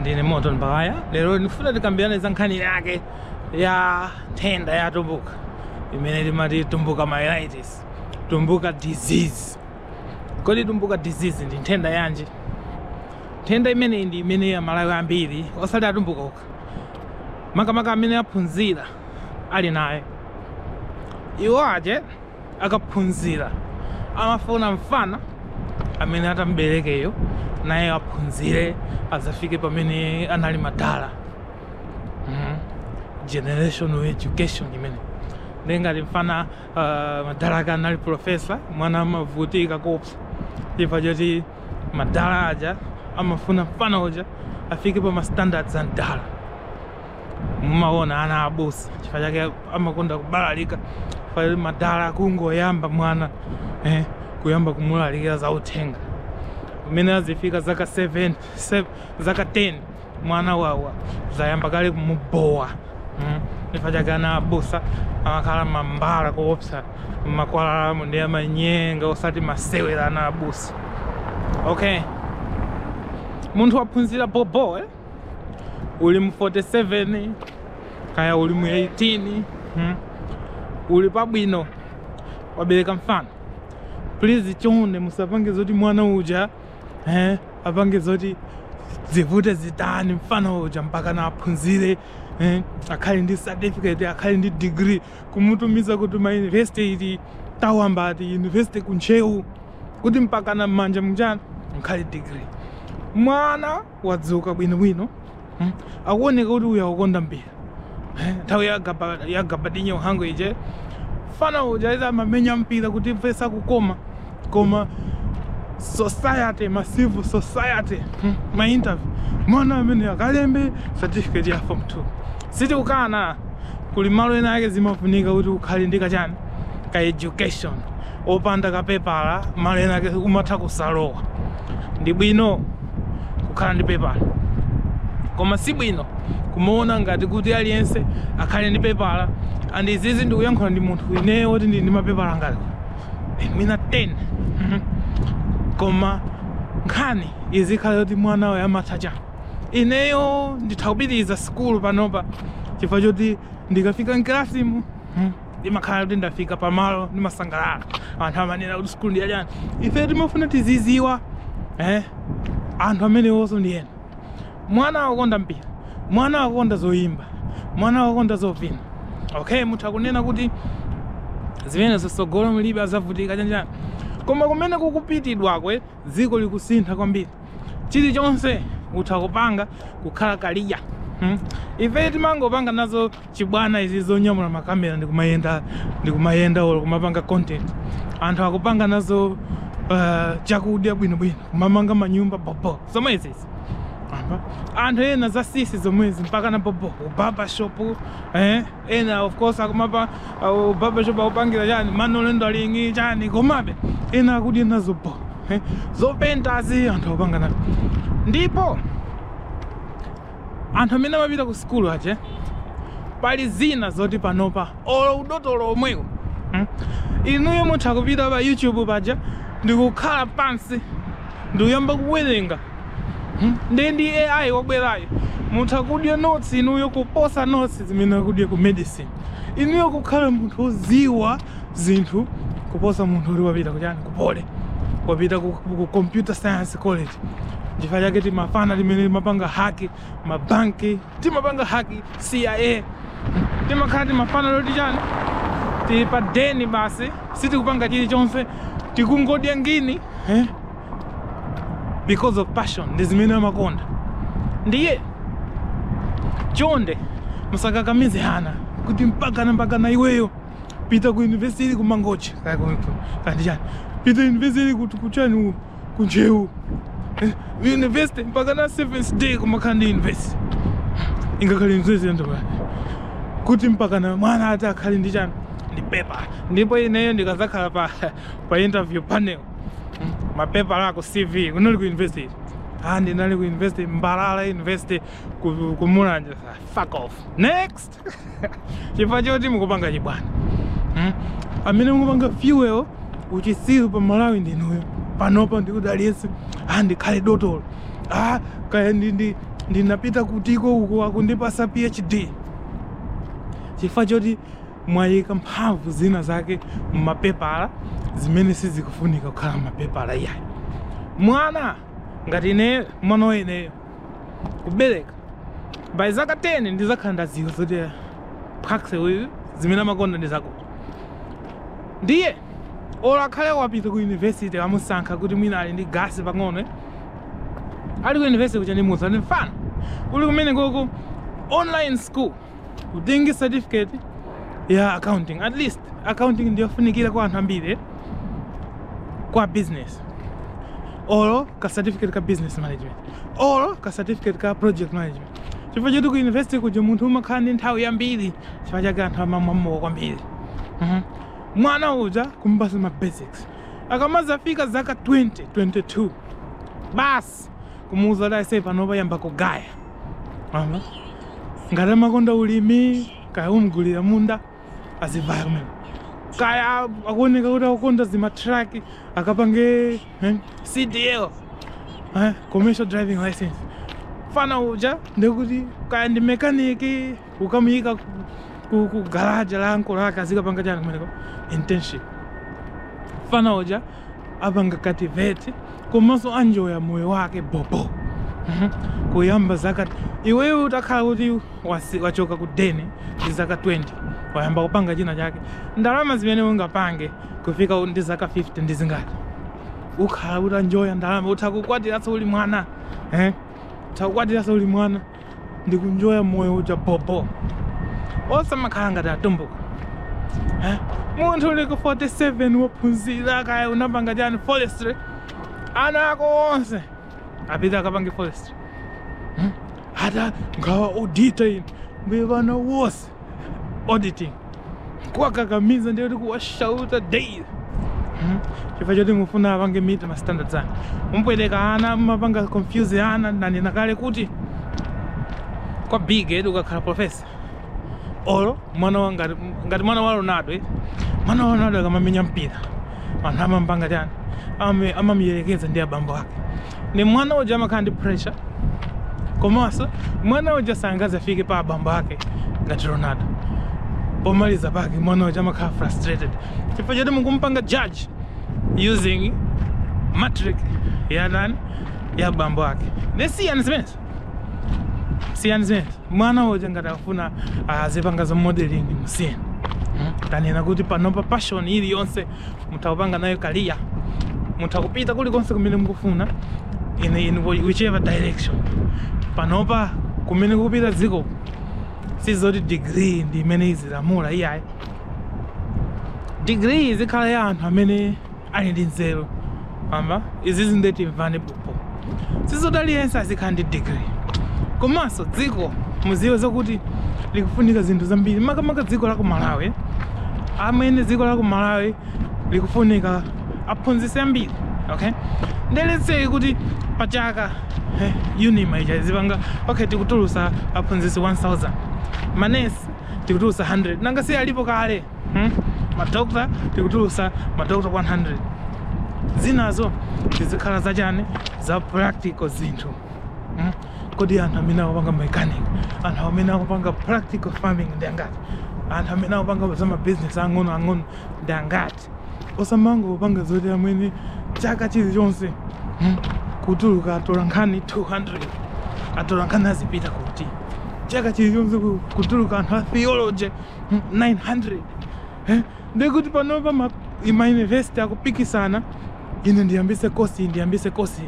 ndine moto mbaya lero ndifuna tikambirane za nkhani yake ya nthenda ya tumbuka imene timati tumbuka myelitis tumbuka disease kodi tumbuka disease ndi nthenda yanji nthenda imeneyi ndi imene amalawi ambiri osati atumbuka okha makamaka amene anaphunzira ali naye iwo aja akaphunzira amafuna mfana amene atamberekeyo naye aphunzire azafike pamene anali madala mm -hmm. generational education imene ndengati mfana uh, madala ake anali profesa mwana amavutika kopsa chifukwa choti madala aja amafuna mfana uja afike pa mastandards a mdala mumaona ana abusa chifukwa chake amakonda kubalalika madala kungoyamba mwana eh, kuyamba kumulalikira za uthenga umene azifika zaka 7 7 zaka 10 mwana wawo zayamba kale kumubowa mm. chifukwa chake ana abusa amakhala mambala koopsa makwalalamu ndi amanyenga osati masewera ana abusa okay munthu waphunzira bobo eh? uli mu 47 kaya uli mu 18 hmm? uli pabwino wabereka mfana please chonde musapange zoti mwana uja eh, apange zoti zivute zitani mfana uja mpakana aphunzire eh, akhale ndi certificate akhale ndi degree kumutumiza kuti ma university iti tawamva ati university kuntcheu kuti mpakana mmanja mujani mukhale degree mwana wadzuka bwino bwino hmm? akuoneka kuti uyu akukonda mpira eh? nthawi ya Gabadinyo Mhango ija mfana uja eti amamenya mpira kutimvetsa kukoma koma society ma civil society hmm? ma interview mwana amene akalembe certificate ya form 2 sitikukana kuli malo ena ake zimafunika kuti ukhale ndi kachani ka education opanda kapepala malo ena ake umatha kusalowa ndi bwino kukhala ndi pepala koma si bwino kumaona ngati kuti aliyense akhale ndi pepala and izizi ndikuyankhula ndi munthu ineyo woti ndili ndi mapepala ngati eh, mwina 10 Mhm. koma nkhani izikhala yoti mwana wako amatha chani ineyo nditha kupitiriza sikulu panopa chifukwa choti ndikafika mkalasimu ndimakhala kuti ndafika pamalo ndimasangalala anthu amanena kuti sukulu ndi yachani ife timafuna tiziziwa eh? anthu amenewonso ndi ena mwana akukonda mpira mwana akukonda zoyimba mwana akukonda zovina okay mutha kunena kuti zimenezo tsogolo mlibe azavutika chanichani koma kumene kukupitidwaku dziko likusintha kwambiri chilichonse utha kupanga kukhala kaliya hmm? ife timangopanga nazo chibwana izi zonyamula makamera ndikumayenda ndikumayenda olo kumapanga content anthu akupanga nazo uh, chakudya bwinobwino kumamanga manyumba bobo zomwe izizi anthu ena za sisi zomwezi mpaka na bobo barbershop eh? ena of course akumapa uh, barbershop akupangira chani ma Ronaldo alingi chani komabe ena akudya nazo bo eh, zopentazi anthu akupanga nazo ndipo anthu amene amapita ku sikulu aje pali zina zoti panopa olo udotolo omwewo hmm? inuyo mutha kupita pa youtube paja ndikukhala pansi ndikuyamba kuwerenga nde ndi AI wabwerayo mutha kudya notes inuyo kuposa notes zimene akudya ku medicine inuyo kukhala munthu woziwa zinthu kuposa munthu uli wapita kuchani ku Poly wapita ku, ku computer science college chifukwa chake timafana timene timapanga haki mabanki timapanga haki cia timakhala timafana toti chani tili pa deni basi sitikupanga chilichonse tikungodya ngini eh? because of passion ndi zimene amakonda ndiye chonde musakakamize ana kuti mpakana mpakana iweyo pita ku university kumangochi kaya ku- ku- kandi chani pita university kuti kuchani u- kuntcheu Eh, university mpakana seventh day kumakhala ndi university ingakhale mzezi yandoba kuti mpakana mwana ati akhale ndi chani ndi pepa ndipo ineyo ndikazakhala pa pa interview panel Mm, mapepala ako cv kunali ku university ah ndinali ku university mbalala university ku, ku mulanje fuck off next chifukwa choti mukupanga chibwana hmm? amene mukupanga fuel uchisiru pa malawi ndinuyo panopa ndikuti aliyense ah, ndikhale dotolo ah, kaya ndinapita kutiko uko akundipasa phd chifukwa choti mwayika mphamvu zina zake mmapepala zimene sizikufunika kukhala mmapepala iyayi mwana ngati ineyo mwana wa ineyo kubereka by zaka 10 ndizakhala ndaziwa zoti phakse uyu zimene amakonda ndi zakuti ndiye olo akhale wapita ku university amusankha kuti mwina ali ndi gasi pang'ono eh? ali ku university kucha ndimuuza ndi mfana uli kumene koko online school utengi certificate ya accounting at least accounting ndiyofunikira kwa anthu ambiri eh? kwa business or ka certificate ka business management olo ka certificate ka project management chifukwa choti ku university kuja munthu umakhala ndi nthawi yambiri chifukwa chake anthu amamwamowa kwambiri Mhm. mwana uja kumpasa ma basics akamazafika zaka 20 22 basi basi kumuuza kuti aise pano yamba kugaya Aha. ngati amakonda ulimi kaya umgulira munda azivaya kumene kaya akuoneka kuti akukonda zimatraki akapange eh, cdl eh, commercial driving license fana uja ndekuti kaya ndi mekaniki ukamuyika ku- ku- ku garaja la ankolo ake azikapanga chani kumeneko internship fana uja apanga cultivate komanso anjoya moyo wake bobo Mhm. kuyamba zaka iweyo utakhala kuti wasi- wachoka ku deni ndi zaka 20 wayamba kupanga china chake ndalama zimene ungapange kufika ndi zaka 50 ndi zingati ukhala utanjoya ndalama utha kukwatiranso uli mwana eh? utha kukwatiranso uli mwana ndikunjoya moyo uja bobo osamakhala ngati atumbuka Eh? munthu uli ku 47 wophunzira kaya unapanga chani forestry ana ako onse apita akapange forestry Hmm? ata ngawa auditor ine mbuye vana wose auditing kuwakakamiza ndiye kuti kuwashauta daily Mhm. chifukwa choti mufuna apange meet ma standards anu mupweteka ana mumapanga confuse ana nanena kale kuti kwa big head ukakhala professor olo mwana wa ngati ngati mwana wa ronaldo eti mwana wa ronaldo akamamenya mpira anthu amamupanga chani Amame- amamuyelekeza ndi abambo ake ni mwana uja amakhala ndi pressure komanso mwana uja sangazafike pa abambo ake ngati ronaldo pomaliza pake mwana uja amakhala frustrated chifukwa choti mukumpanga judge using matric ya nani ya abambo ake ne siyani zimenezo siyani zimenezo mwana uja ngati akufuna azipanga za modeling musiyeni tanena kuti panopa passion iliyonse mutha kupanga nayo career mutha kupita kulikonse kumene mukufuna in, in whichever direction panopa kumene kukupita dziko sizoti degree ndi imene izilamula iyayi degree izikhala ya anthu amene ali ndi nzeru pamba izizi ndeti mvanepo po sizoti aliyense azikhala ndi degree komanso dziko muziwe zakuti likufunika zinthu zambiri makamaka dziko la ku malawi amwene dziko la ku malawi likufunika aphunzitsi ambiri okay nde zitheke kuti pachaka eh, unima ija izipanga okay tikutulusa aphunzitsi 1000 manesi tikutulusa 100 nanga si alipo kale hmm? madokta tikutulusa madokta 100 zinazo zizikhala zachani za practical zinthu hmm? kodi anthu amene akupanga mechanic anthu amene akupanga practical farming ndi angati anthu amene akupanga za mabusiness ang'ono ang'ono ndi angati osamangopanga zoti amwene chaka chilichonse hmm? kutuluka atola nkhani 200 atola nkhani azipita kuti chaka chilichonse ku- kutuluka anthu a theology 900 eh? ndikuti panopa ma university akupikisana ine ndiyambise kosi ndiyambise kosi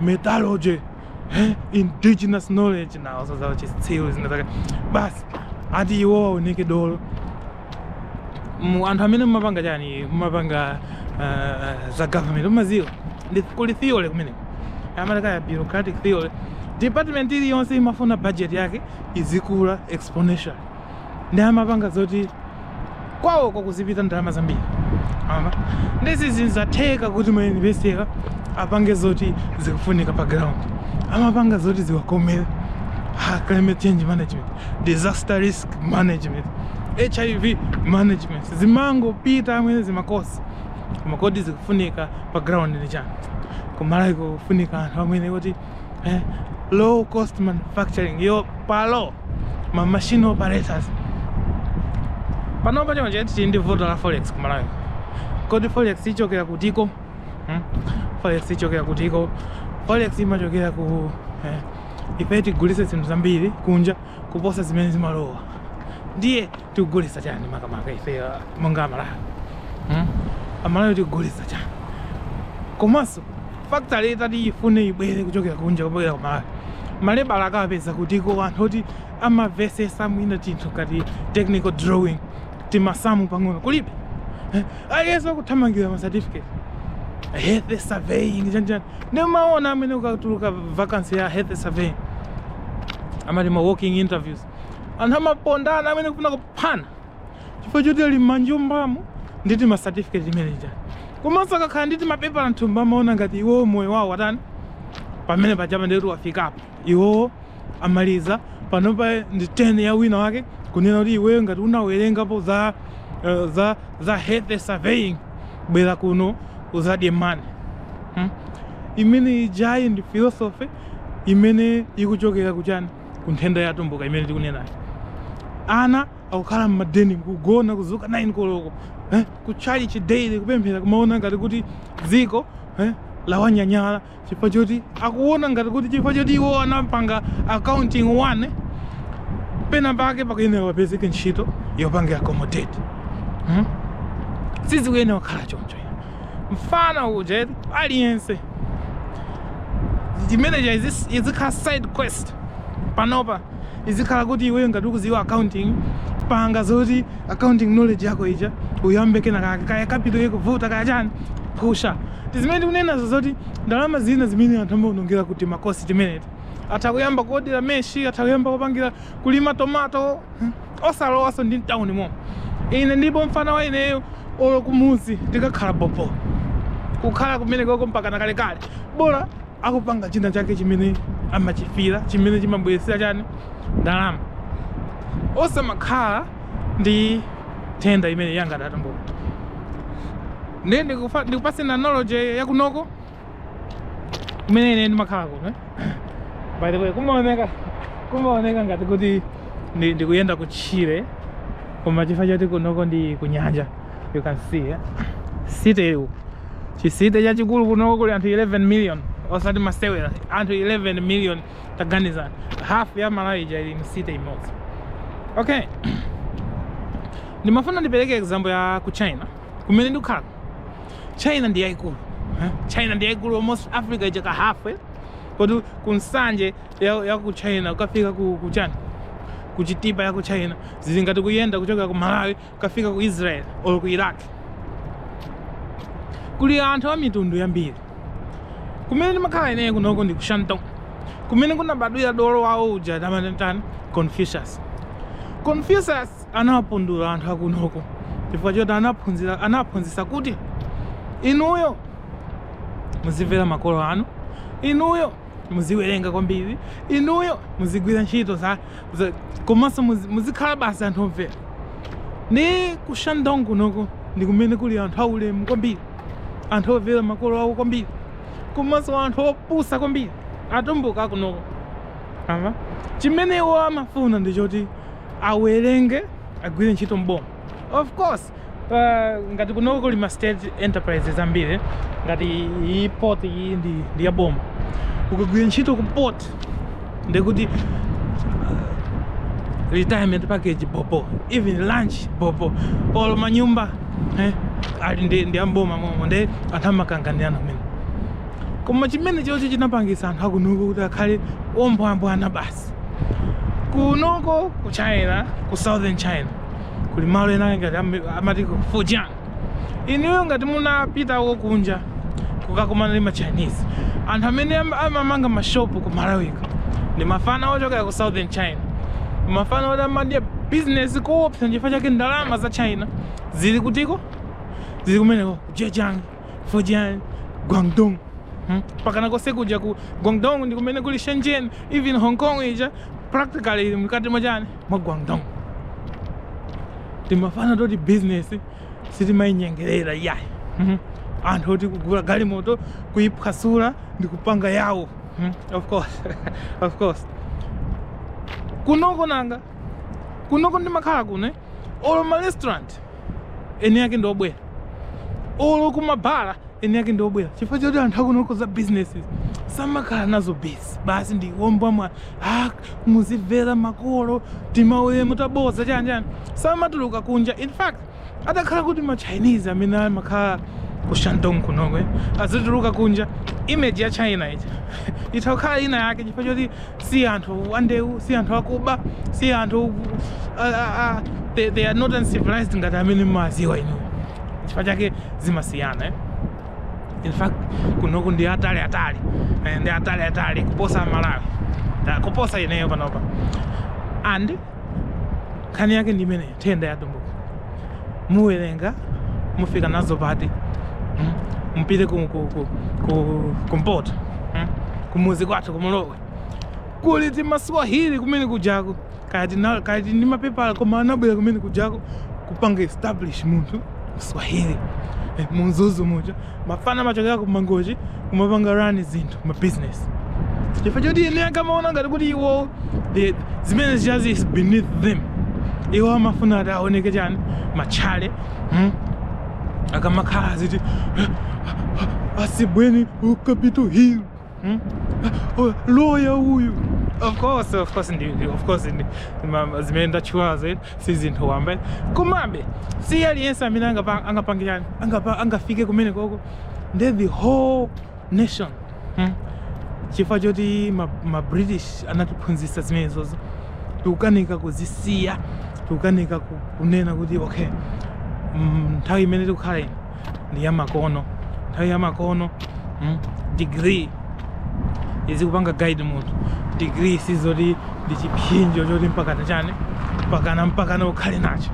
metallurgy eh? indigenous knowledge nawo zazawo chitsiru chinachake basi ati iwo aoneke dolo mu anthu amene mumapanga chani mumapanga uh, za government mumaziwa ndi kuli theory kumeneko amataka ya bureaucratic theory department iliyonse imafuna budget yake izikula exponentially ndi amapanga zoti kwawoko kuzipita ndalama zambiri ama nde sizinzatheka kuti mayunivesitiwa apange zoti zikufunika pa ground amapanga zoti ziwakomere ha climate change management disaster risk management hiv management zimangopita amwene zimakosi koma kodi zikufunika pa ground ndi chani kumalawi kufunika anthu amwene kuti eh, low cost manufacturing yo palo ma machine operators panopa chonchi tili ndi vuto la forex kumalawi kodi forex ichokera kutiko hmm? forex ichokera kutiko forex imachokera ku eh, ife tigulise zinthu zambiri kunja kuposa zimene zimalowa ndiye tikugulitsa chani makamaka ife uh, monga amalawi hmm? amalawi tikugulitsa chani komanso factory itati ifune ibwere kuchokera kunja kubwera kumalawi malebala akapeza kutiko anthu oti amavesesa mwina tinthu ngati technical drawing timasamu pang'ono kulibe eh, aliyense akuthamangira ma certificate health surveying chanjani ndimaona amwene ikatuluka vacancy ya health surveying amati ma walk-in interviews anthu amapondana amene kufuna kuphana chifukwa choti ali mmanjumbamo ndi tima certificate timene tija komanso akakhala ndi timapepa anthu amaona ngati iwo moyo wawo watani pamene pajapa ndikuti wafikapo iwo amaliza panopa ndi turn ya wina wake kunena kuti iweyo ngati unawerengapo za uh, za za health surveying bwera kuno uzadye mani hmm? imene ijayi ndi philosophy imene ikuchokera kuchani ku nthenda ya Atumbuka imene tikunenayo ana akukhala mmadeni kugona kuzuka 9 koloko eh, kutchalichi daily kupemphera kumaona ngati kuti dziko eh, lawanyanyala chifukwa choti akuona ngati kuti chifukwa choti iwo anapanga accounting 1 pena pake pakuyenera wapezeke ntchito yopanga accommodate hmm? sizikuyenera kukhala choncho mfana uja eti aliyense timene tija izi- izikhala side quest panopa izikhala kuti iweyo ngati ukuziwa accounting panga zoti accounting knowledge yako ija uyambe kena kake kaya capital ikuvuta kaya chani pusha tizimene tikunenazo zoti ndalama zina zimene anthu amaonongera ku timakosi timeneti atha kuyamba kuodera meshi atha kuyamba kupangira kulima tomato osalowanso ndi mtauni mo ine ndipo mfana wa ineyo olo kumuzi tikakhala bobo kukhala kumene koko mpakana kalekale bola akupanga china chake chimene amachifira chimene chimabweresera chani ndalama osamakhala ndi nthenda imene yanga ya Atumbukayi ndiye ndikupa- ndikupase analogy yakunoko kumene ine ndimakhala kuno by the way kumaoneka kumaoneka ngati kuti ndi- ndikuyenda kutchire koma chifukwa choti kunoko ndi kunyanja you can see eh? city uku chicity chachikulu kunoko kuli anthu 11 million osati masewera anthu 11 million taganizani half ya malawi ija ili mcity imodzi okay ndimafuna ndipereke example ya ku china kumene ndikukhala china ndi yaikulu eh? china ndi yaikulu almost africa ija ka half eh? kodi ku nsanje ya, ya ku china ukafika ku, ku chani ku chitipa ya ku china zili ngati kuyenda kuchokera ku malawi ukafika ku israel or ku iraq kuli anthu a mitundu yambiri kumene ndimakhala ineyo kunoko ndi ku shantung kumene kunabadwira dolo wawo uja amamutani confucius confucius anawapundula anthu akunoko chifukwa choti anawaphunzisa kuti inuyo muzimvera makolo anu inuyo muziwerenga kwambiri inuyo muzigwira ntchito komanso muzikhala basi anthu omvera ndi ku Shandong kunoko ndi kumene kuli anthu aulemu kwambiri anthu omvera makolo awo kwambiri komanso anthu opusa kwambiri atumbuka kunoko ama chimene iwo amafuna ndi choti awerenge agwire ntchito mboma of course ngati kunoko kuli ma state enterprises ambiri ngati iyi port iyi ndi, ndi ya boma ukagwira ntchito ku port ndikuti retirement package bobo even lunch bobo olo manyumba eh, ali ndi, ndi amboma momo nde anthu amakanganirana kumene koma chimene chocho chinapangisa anthu akunoko kuti akhale ombwambwana basi basi kunoko ku china ku southern china kuli malo ena ngati am- amati ku fujian inuyo ngati munapitako kunja mukakumana ndi machinese anthu amene am- amamanga mashopu ku malawiko ndi mafana ochokera ku southern china mafana oti amadya bizinesi koopsa nchifukwa chake ndalama za china zili kutiko zili kumeneko ku Zhejiang Fujian, Guangdong. Hmm? Pakana kose kuja ku Guangdong ndi kumene kuli Shenzhen, even Hong Kong ija practically mkati mwa chani mwa Guangdong. Timafana toti business sitimayinyengerera yayi. Hmm? Anthu oti kugula galimoto kuyiphwasula ndi kupanga yawo. Hmm? Of course. of course. Kunoko nanga. Kunoko ndimakhala kuno. eh? olo ma restaurant eni yake ndi obwera olo kumabhala eni yake ndi obwera chifukwa choti anthu akunoko za businesses samakhala nazo busy basi ndi womba mwa ah, muzimvera makolo timauye mutabodza chani chani samatuluka kunja in fact atakhala kuti ma chinese amene amakhala ku shandong kunoko eh, azituluka kunja image ya china ija itha kukhala ina yake chifukwa choti si anthu andeu si anthu akuba si anthu a, a, a, they, they are not uncivilized ngati amene mmaziwa inu chifukwa chake zimasiyana eh? in fact kunoko ndi atali atali eh, ndi atali atali kuposa amalawi Ta- kuposa ineyo panopa and nkhani yake ndi imeneyo nthenda ya atumbuka muwerenga mufika nazo pati mm? mupite ku, ku, ku, ku, kumpoto mm? kumuzi kwathu kumulowe kuli timaswahili kumene kujako kaya tina- kaya tili ndi mapepala koma anabwera kumene kujako kupanga establish munthu mswahili eh, munzuzu muja mafana amachokera ku mangochi kumapanga run zinthu ma business chifukwa choti ine ankamaona ngati kuti iwo the- zimene zichazi is beneath them iwo amafuna ati aoneke chani matchale hmm? akamakhala aziti asibweni ku Capitol Hill Hmm? Oh, lawyer uyu of course of course ndi ndi- of course ndi ma- zimene ndatchulazo eti si zinthu wamba komabe si aliyense amene angapa- angapange chani angapa- angafike kumene koko ndiye the whole nation hmm? chifukwa choti ma, ma british anatiphunzitsa zimenezozo tikukanika kuzisiya tikukanika ku- kunena kuti okay mm, nthawi imene tikukhala ino ndi yamakono nthawi yamakono mm, degree izikupanga guide munthu degree sizoti ndi chipsinjo choti mpakana chani mpakana mpakana ukhale nacho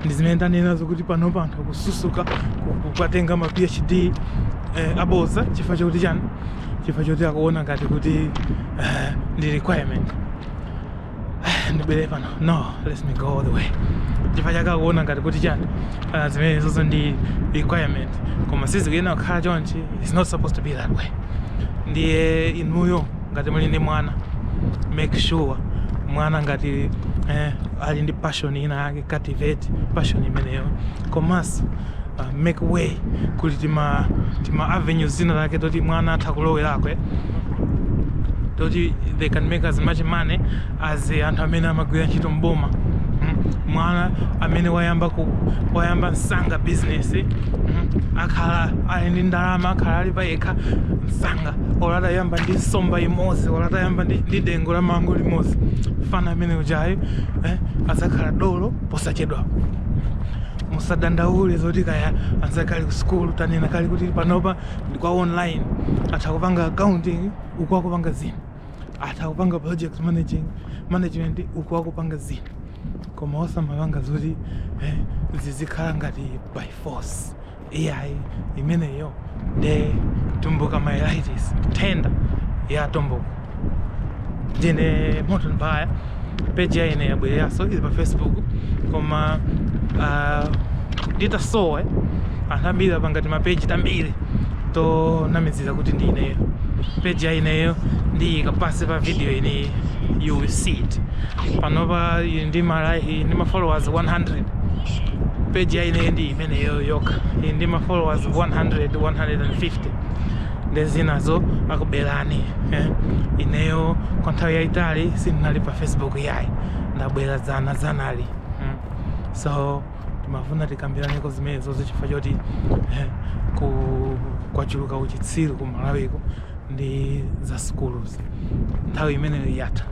ndi zimene ndanenazo kuti panopa anthu akususuka ku- kukatenga ma phd eh, aboza chifukwa choti chani chifukwa choti akuona ngati kuti eh, ndi requirement ndibwere pano no let me go all the way chifukwa chake akuona ngati kuti chani uh, zimene zozo ndi requirement koma sizikuyenera kukhala chonchi it's not supposed to be that way ndiye inuyo ngati muli ndi mwana make sure mwana ngati eh, ali ndi passion ina yake cultivate passion imeneyo komanso uh, make way kuti tima tima avenue tina take toti mwana atha kulowerako eh? toti they can make as much money as eh, anthu amene amagwira ntchito mboma mm. mwana amene wayamba ku wayamba msanga business eh? mm. akhala ali ndi ndalama akhala ali payekha msanga olo atayamba ndi nsomba imodzi ola atayamba ndi, ndi dengo la mango limodzi fana amene ujayo eh? adzakhala dolo posachedwapo musadandaule zoti kaya anzake ali ku sukulu tanena kale kuti panopa ndi kwa online atha kupanga accounting uku akupanga zinthu atha kupanga project managing management uku akupanga zinthu koma osamapanga zoti eh, zizikhala ngati by force iyayi imeneyo nde tumbuka myelitis nthenda ya atumbuka ndine moto mbaya peji ya ine yabwereranso ili pa facebook koma uh, nditasowa anthu ambiri apanga timapeji tambiri tonamizira kuti ndi ineyo peji ya ineyo ndiyika pansi pa video ino you will see it panopa ili ndi ma like- ndi ma followers 100 peji ya ineyo ndi imeneyo yokha ili ndi ma followers 100 150 ndi zinazo akubelani eh? ineyo kwa nthawi yayitali sindinali pa facebook yayi ndabwera dzana dzanali mm. so timafuna tikambiraneko zimenezozi chifukwa choti eh, ku kwachuluka uchitsiru ku malawiko ndi za sukuluzi nthawi imeneyo yatha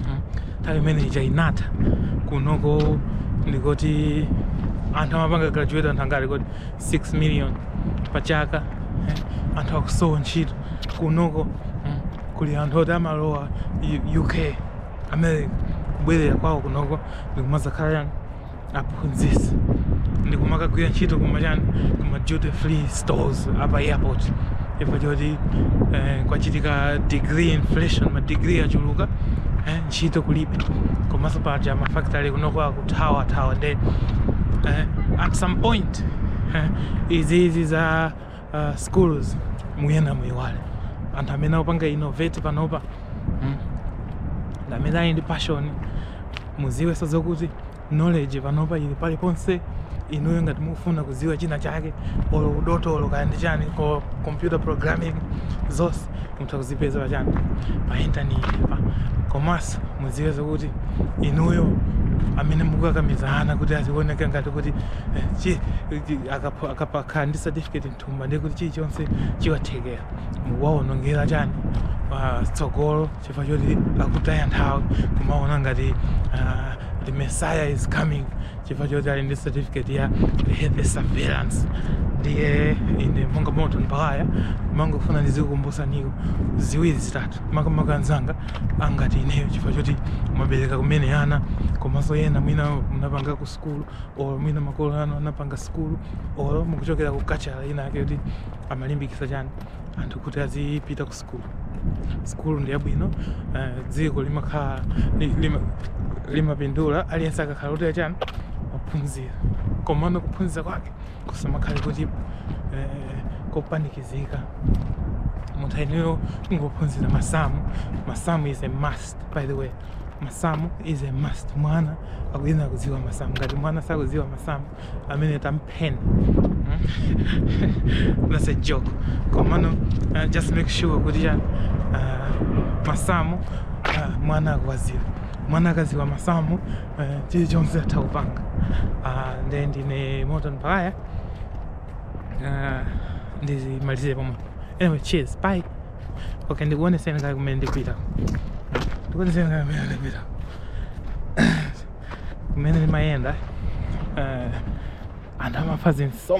hmm? nthawi imene ija inatha kunoko ndikoti anthu amapanga graduate anthu angati koti 6 million pa chaka eh? anthu akusowa ntchito kunoko hmm? kuli anthu oti amalowa uk america kubwerera kwawo kunoko ndikumazakhala yani aphunzitsi ndikumakagwira ntchito kumachani kuma duty free stores apa airport chifukwa choti eh, kwachitika degree inflation madegree achuluka eh, ntchito kulibe komanso paja mafactory kunoko akuthawa thawa nde eh, at some point eh, izizi za uh, schools muyena muyiwale anthu amene akupanga innovate panopa mm. ndi amene ali ndi passion muziwenso zokuti knowledge panopa ili paliponse inuyo ngati mukufuna kudziwa china chake olo udotolo kaya ndi chani ko computer programming zonse mutha kuzipeza pa chani pa intaneti pa komanso mudziwe zokuti inuyo amene mukukakamizana kuti azioneka ngati kuti eh, chi- akakhala ndi certificate mthumba ndiye kuti chilichonse chiwathekera mukuwaonongera chani tsogolo chifukwa choti akutaya nthawi kumaona ngati ah, the messiah is coming chifukwa choti ali ndi certificate ya health surveillance ndiye ine monga moto mpawaya mangofuna ndizikukumbusaniko ziwiri zitatu makamaka anzanga angati ineyo chifukwa choti mwabereka kumene ana komanso ena mwina munapanga kusu sukulu or mwina makolo anu anapanga sukulu or mukuchokera ku culture ina yake kuti amalimbikisa chani anthu kuti azipita ku sukulu sukulu ndi yabwino uh, dziko limakhala limapindula lima aliyense akakhala kuti achani aphunzira komano kuphunzira kwake kusamakhale kuti eh, kopanikizika munthu ayenera kungophunzira masamu masamu is a must by the way masamu is a must mwana akuyena kudziwa masamu ngati mwana sakudziwa masamu amene tampheni hmm? that's a joke komano uh, just make sure kuti chani uh, masamu uh, mwana akuwadziwa mwana akadziwa masamu uh, chilichonse atha kupanga uh, nde ndine moto mpakaya uh, ndizimalize pomwe anyway cheers bye okay ndikuoneseni kaye kumene ndikupita ndikuoneseni kaye kumene ndikupita kumene ndimayenda eh, anthu amafa zinso